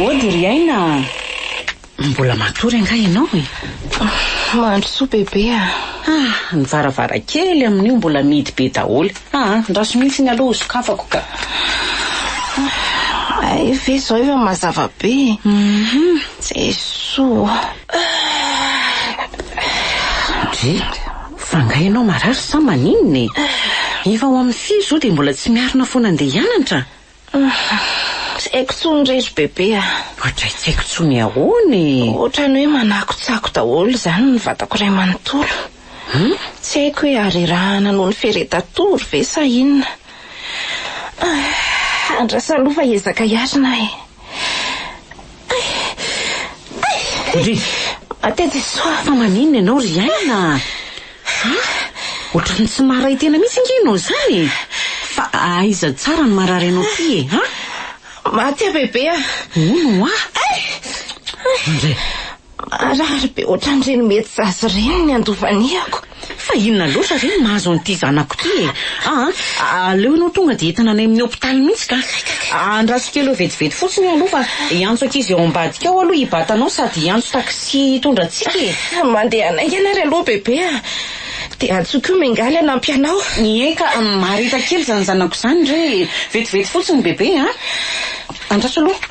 Ody ry Aina a! Mbola matory angaha ianao e? Mahandro soa bebe a! Ah, ny varavarankely amin'io mbola mihidy be daholo. Ah ah, andraso mihitsy ny aloha ho sokafako ka. Hay ve izao efa mazava be e. Mhm. Jesoa. Ry, fa nga ianao marary sa maninona e? Efa ho amin'ny firy izao dia mbola tsy miarina foana andeha hianatra? Tsy haiko tsony re ry bebe a! Ohatray tsy haiko tsony ahoana e! Ohatrany hoe manakotsako daholo izany ny vatako iray manontolo. Tsy haiko hoe harerahana noho ny feretatory ve sa inona. Andraso aloha fa hiezaka hiarina aho e! Ry, fa maninona ianao ry aina a? Ohatran'ny tsy maharay tena mihitsy ange ianao izany e! Fa aiza tsara no marary anao ity e a? Maty aho bebe a! Hono hoa! Indray! Marary be ohatran'ireny mety zaza ireny ny andovaniako. Fa inona loatra ve no mahazo an'ity zanako ity e? Aa, aleo ianao tonga dia entina any amin'ny hopitaly mihitsy ka. Andraso kely eo vetivety fotsiny io aloha fa hiantso ankizy ao ambadika ao aloha i Bata anao sady hiantso taxi hitondra antsika e. Mandeha naingana ary aloha bebe a. Dia antsoy koa Mingaly hanampy anao. Eka, mareta kely izany zanako izany re e. Vetivety fotsiny bebe a. Andraso aloha.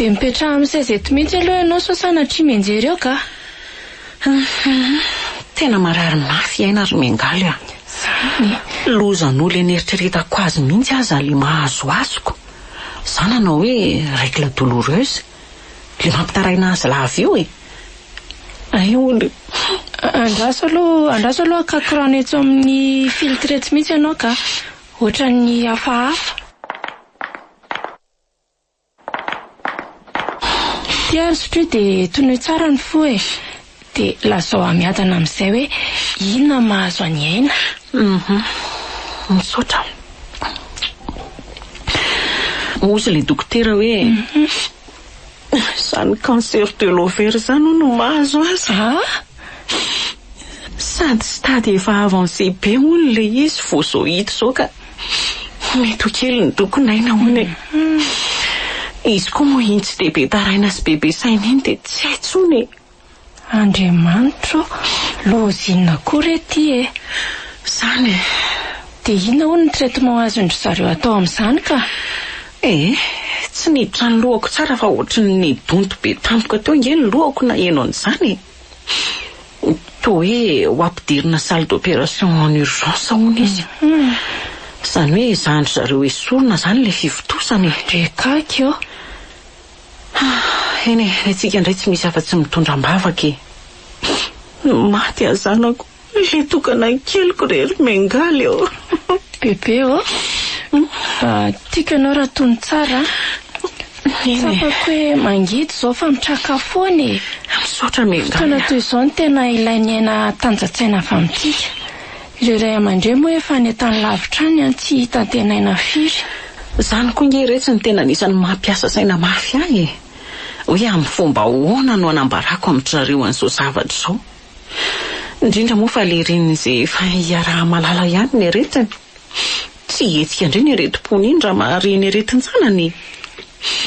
Dia mipetraha amin'ny seza eto mihitsy aloha ianao sao sanatria mianjery eo kah. Tena marary mafy aina ry Miangaly a! Izany e! Lozan'olona eny eritreretako azy mihitsy aza ilay mahazoazoko. Izany hanao hoe règle douloureuse. Ilay mampitaraina azy lava io e! Aioly! Andraso aloha, andraso aloha hakaky rano etsy amin'ny filtre etsy mihitsy ianao kah. Ohatran'ny hafahafa. Tia ry Sophie dia tonoy tsara ny fo e! Dia lazao hamiadana amin'izay hoe inona no mahazo an'i Aina. Misaotra. Hozy ilay dokotera hoe izany cancer de l'ovaire izany hono no mahazo azy. Ah! Hii. Sady stade efa avancé be hono ilay izy vao izao hita izao ka mety ho kely ny doko n'aina hono e. Izy koa moa iny tsy dia be taraina sy be be saina iny dia tsy hay tsony e. Andriamanitra ô, loza inona koa re ity e. Zany e. Dia inona hono ny traitement azon-dry zareo atao amin'izany ka? Eh, tsy niditra ny lohako tsara fa ohatry ny nidonto be tampoka teo ange ny lohako naheno an'izany e! Toa hoe ho ampidirina salle d'opération en urgence hono izy. Izany hoe zandry zareo esorina izany ilay fivontosana e! Bekaky ô! Eny e, ny antsika indray tsy misy afa-tsy mitondra am-bavaka e! Maty aho zanako! Ilay tokanan'ny keliko re ry Mengaly ô. Bebe ô, tiako ianao raha tony tsara a. Tsapako hoe mangidy izao fa mitraka foana e. Misaotra Mengaly a. Fotoana toy izao no tena ilain'ny aina hatanjantsaina avy amintsika. Ireo ray aman-dreny moa efa any an-tany lavitra any an, tsy hita antenaina firy. Izany koa ange re tsy ny tena anisan'ny mampiasa saina mafy ahy e. Hoe amin'ny fomba ahoana no hanambarako amin-dry zareo an'izao zavatra izao. Indrindra moa fa lerin' izay efa iaraha-malala ihany ny aretiny. Tsy hihetsika indray ny aretim-pony iny raha mahare ny aretin-janany e!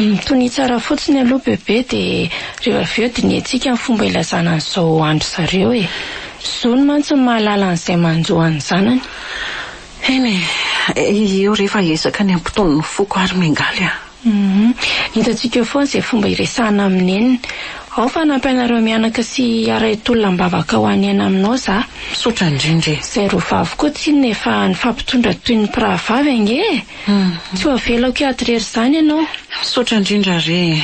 Mitonia tsara fotsiny aloha bebe dia rehefa avy eo dinihantsika ny fomba ilazana an'izao andry zareo e! Zony mantsy ny mahalala an'izay manjo an'ny zanany. Eny e! Eo re fa ezaka ny hampitony ny foko ary miangaly a! Humm. Hitantsika foana izay fomba hiresahana amin'i Neny. Ao fa hanampy anareo mianaka sy hiaray tolona am-bavaka ho any aina aminao za. Misaotra indrindra e. Izay roa vavy koa tsinona efa nifampitondra toy ny mpirahavavy ange e. Tsy ho avelako hiady irery izany ianao. Misaotra indrindra re e.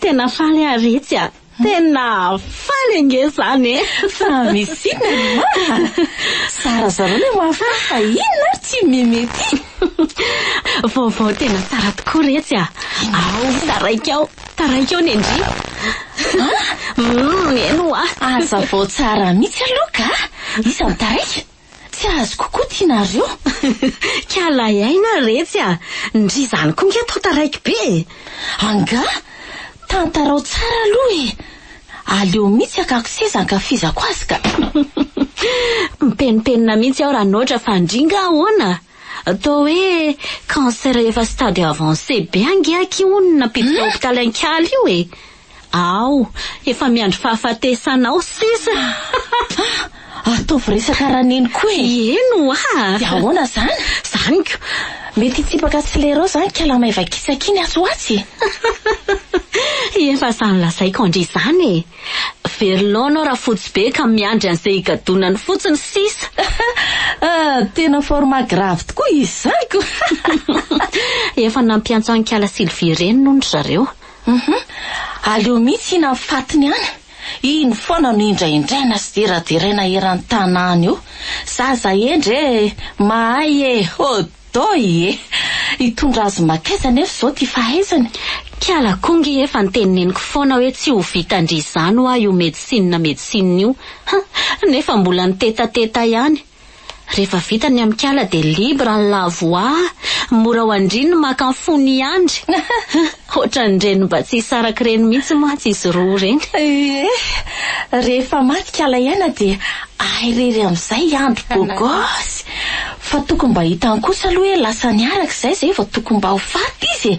Tena faly aho ry Ritsy a. Tena faly ange izany e. Fa misy inona ma? Zarazarao ilay mahafaly fa inona ary tsy meme ity? Vaovao tena tsara tokoa Ritsy a. Ao, taraiky ao. Taraiky ao ny ndry. Hum, eny hoa. Hazavao tsara mihitsy aloha ka. Iza no taraiky? Tsy azoko koa ty nareo. Kialahy aina retsy a! Ndry izany koa nga tonta raiky be e! Angaha? Tantarao tsara aloha e! Aleo mitsy hakako seza ankafizako azy ka! Mipenimpenina mihitsy aho Ranoatra fa ndry nga ahoana? Toa hoe cancer efa stade avancé be ange aky hono nampiditra hopitaly an-kiala io e! Aho efa miandry fahafatesana ao sisa. Ataovy resaka raneny koa e! Heno ah! Dia ahoana izany? Izany ko! Mety hitsipaka accélérant izany kala maivakitsaka iny atsy ho atsy e! Efa samy lazaiko andry izany e! Very laona aho rafotsy be ka miandry an'izay higadonany fotsiny sisa. Ah, tena format grave tokoa izany ko! Efa nampiantso an'i kala Sylvie ireny hono ry zareo. Humm aleo mihitsy hihinan'ny fatiny any, iny foana no indraindraina sy deraderaina eran'ny tanàna io, zaza hendry e, mahay e, hodoy e! hitondra azy makaiza anefa izao ity fahaizany? Kiala koa nge efa ntenineniko foana hoe tsy ho vitan-dry izany hoa io medecine medecine io, ha! nefa mbola nitetateta ihany, Rehefa vita ny amikala dia libre ny la voix, mora ho an-dry ny maka ny fony hiandry. Ohatran'ireny mba tsy hisaraka ireny mihitsy mantsy izy roa ireny. Ie, rehefa maty kala iaina dia ahy irery amin'izay hiandry gogosy. Fa tokony mba hitany kosa aloha hoe lasa niaraka izay izay vao tokony mba ho faty izy e.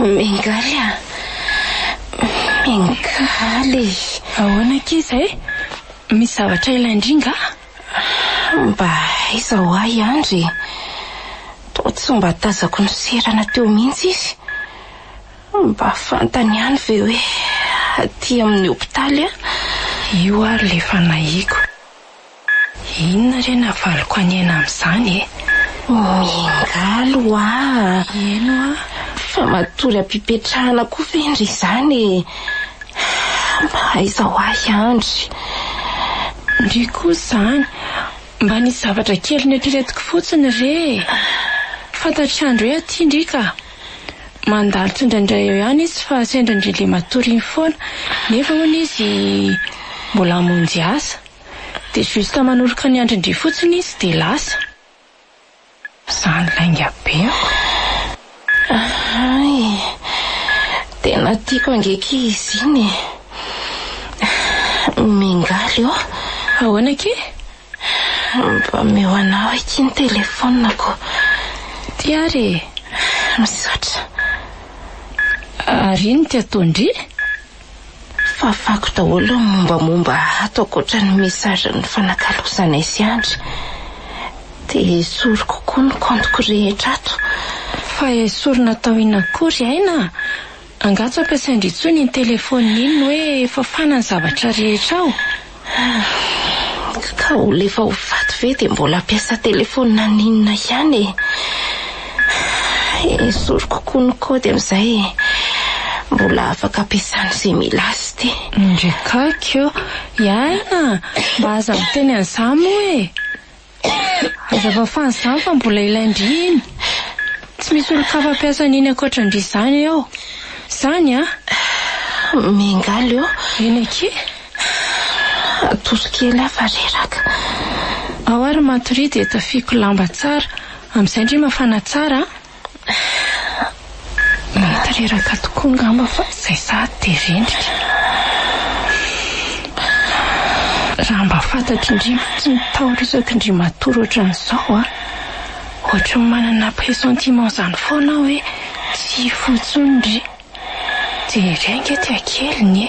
Miangaly a! Miangaly! Ahoana akia izay? Misy zavatra ilain-dry nga? Mba aiza ho ahy i Andry e! Toa tsy mba tazako niserana teo mihitsy izy. Mba fantany ihany ve hoe aty amin'ny hopitaly aho? Io ary ilay fanahiako. Inona re navaliko hanihana an'izany e? Miangaly hoa heno aho fa matory am-pipetrahana koa ve ndry izany e? Mba aiza hoa i Andry? Ndry koa izany, mba nisy zavatra kely noeritreretiko fotsiny re e! Fantatr'i Andry hoe aty ndry ka! Mandalo tsindraindray eo ihany izy fa sendra ndry le matory iny foana, nefa hono izy mbola hamonjy asa. Dia juste manoroka ny andrin-dry fotsiny izy dia lasa. Zany lainga be ako. Hay. Tena tiako ange ki izy iny e. Mingaly ô. Ahoana ki? Mba omeo anao akia ny telefonako. Ty ary e. Misaotra. Ary iny ty ataon-dry? Fafako daholo ny mombamomba ato ankoatra ny message nifanakalozanay sy Andry. Dia esoriko koa ny compte-ko rehetra ato. Fa esorina atao inona akory Aina a! Angaha tsy ampiasain-dry intsony iny téléphone iny hoe fafana ny zavatra rehetra ao? Hum, ka olona efa ho faty ve dia mbola hampiasa telefaony naninona ihany e? Esoriko koa ny kaody amin'izay e. Mbola afaka ampiasana izay mila azy ty. Ndry kaiky ô! Iaina! Mba aza miteny an'izany moa e! Hazava fa izany fa mbola ilain-dry iny. Tsy misy olon-kafa mpiasa an'iny ankoatran-dry izany ao. Izany an! Miangaly eo. Eny akia. Atosy kely aho fa reraka. Ao ary matoria dia tafiako lamba tsara. Amin'izay ndry mafana tsara an! Mety reraka tokoa ngamba fa izay sahady dia rendrika. Raha mba fantatry ndry fotsiny taorisaky ndry matory ohatran'izao a! Ohatry ny manana pressentiment izany foana aho hoe tsy hifoha intsony ndry. Dia irery ange tia kely ny e!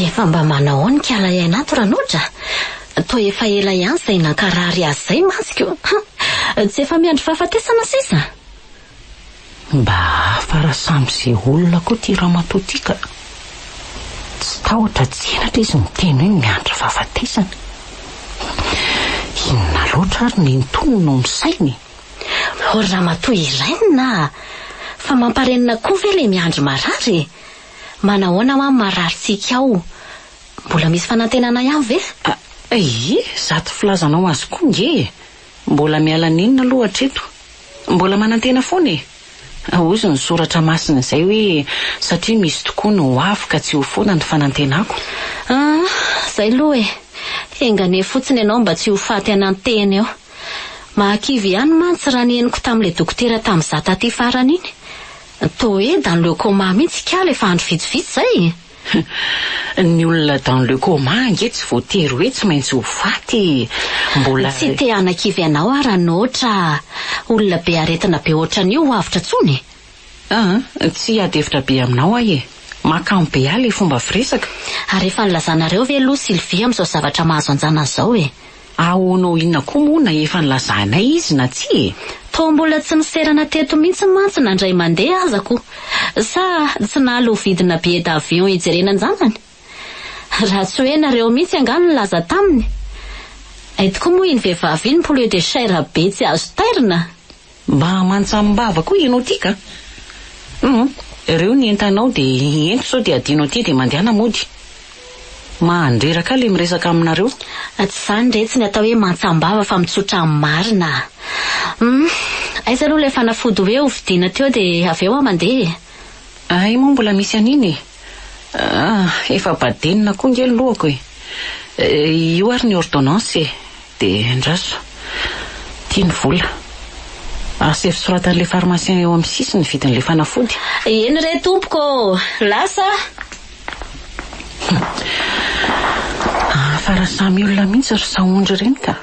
Efa mba manao ao ny kala iain'ato Ranoja a! Toa efa ela ihany izay nankarary azy izay masoko. Tsy efa miandry fahafatesana sisa? Mba hafa raha samy ze olona koa ty ramatoa ty ka! Tsy tahotra tsy henatra izy miteny hoe miandry fahafatesana. Inona loatra ary ny nton no misaina e? Ô ry ramatoa Irène a! Fa mamparenina koa ve le miandry marary e! Manahoana hoa marary tsiky ao? Mbola misy fanantenana ihany ve? Aii, zato filazanao azy koa nge e! Mbola miala nenina aloha hatreto. Mbola manantena foana e! Hozy ny soratra masina izay hoe satria misy tokoa ny ho avy ka tsy ho foana ny fanantenako. Ah, zay aloha e! Enga anie fotsiny ianao mba tsy ho faty anantena eo. Mahakivy ihany mantsy raha ny henoko tamin'ilay dokotera tamin'izaho taty farany iny. Toa hoe dans le coma mihitsy ikala efa andro vitsivitsy izay e! Ny olona dans le coma ange tsy voatery hoe tsy maintsy ho faty e! Mbola. Tsy te hanakivy anao aho raha noatra olona be aretina be ohatran'io ho avotra intsony e! Aa, tsy hiady hevitra be aminao aho e! Mahakamo be ahy ilay fomba firesaka. Ary efa nilazanareo ve aloha Sylvie amin'izao zavatra mahazo anjanany izao e! Ahoana ho inona koa moa na efa nilazanay izy na tsia e! Toa mbola tsy niserana teto mihitsy mantsy na indray mandeha aza ko! Sa tsy nala ho vidina billet d'avion hijerena anjanany? Raha tsy hoe nareo mihitsy angaha no nilaza taminy? Ay tokoa moa iny vehivavy iny poulet de chair be tsy azo tairina! Mba mantsamim-bava koa ianao ity ka! Humm! Reo ny entanao dia ento sao dia adino aty dia mandehana mody! Mahandreraka le miresaka aminareo! Tsy izany retsy ny atao hoe mantsam-bava fa mitsotra amin'ny marina a! Humm! Aiza aloha ilay fanafody hoe hovidiana teo dia avy eo aho mandeha e! Hay moa mbola misy an'iny e! Ah! Efa badenina koa nge ny lohako e! Io ary ny ordonnance e! De andraso! Ty ny vola! Asaivo soratan'ilay pharmacien eo amin'ny sisiny ny vidin'ilay fanafody! Eny re tompoko ô! Lasa ah! Humm! Fa raha samy olona mihitsy ry sahondry ireny ka!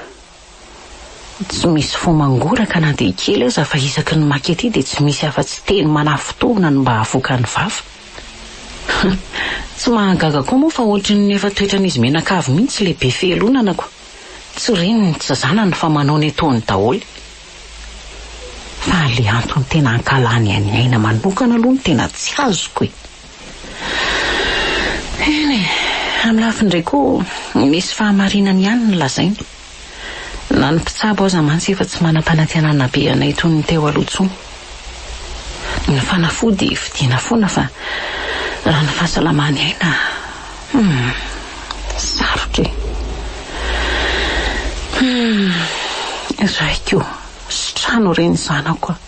Tsy misy fo mangoraka na dia kely aza fa isaky ny maka ity dia tsy misy afa-tsy teny manafintohina no mba havoaka ny vava. Tsy mahagaga koa moa fa ohatry ny efa toetran'izy mianakavy mihitsy ilay be fialonana ko. Tsy reniny tsy zanany fa manao ny ataony daholo. Fa ilay antony tena ankalany an'i Aina manokana aloha no tena tsy azoko e! Eny e, amin'ny lafiny iray koa, misy fahamarinany ihany ny lazainy. Na ny mpitsabo aza mantsy efa tsy manam-panantenana be anay toy ny teo aloha intsony. Ny fanafody vidiana foana fa raha ny fahasalamany aina, humm, sarotra e. Humm, iray koa, sitrano re ny zanako a.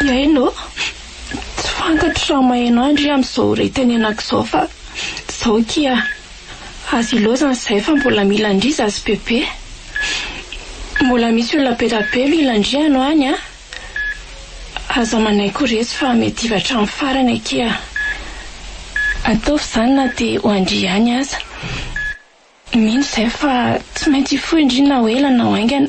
Hiaino ô! Tsy fantatro raha maheno ahy ndry amin'izao ritenenako izao fa izao akia, aza ilaozana izahay fa mbola mila an-dry izazy bebe. Mbola misy olona be dia be mila an-dry ianao any an! Aza manaiky ho resy fa mety hivy hatramin'ny farany akia. Ataovy izany na dia ho an-dry ihany aza. Mino izahay fa tsy maintsy hifoha an-dry na ho ela na ho haingana.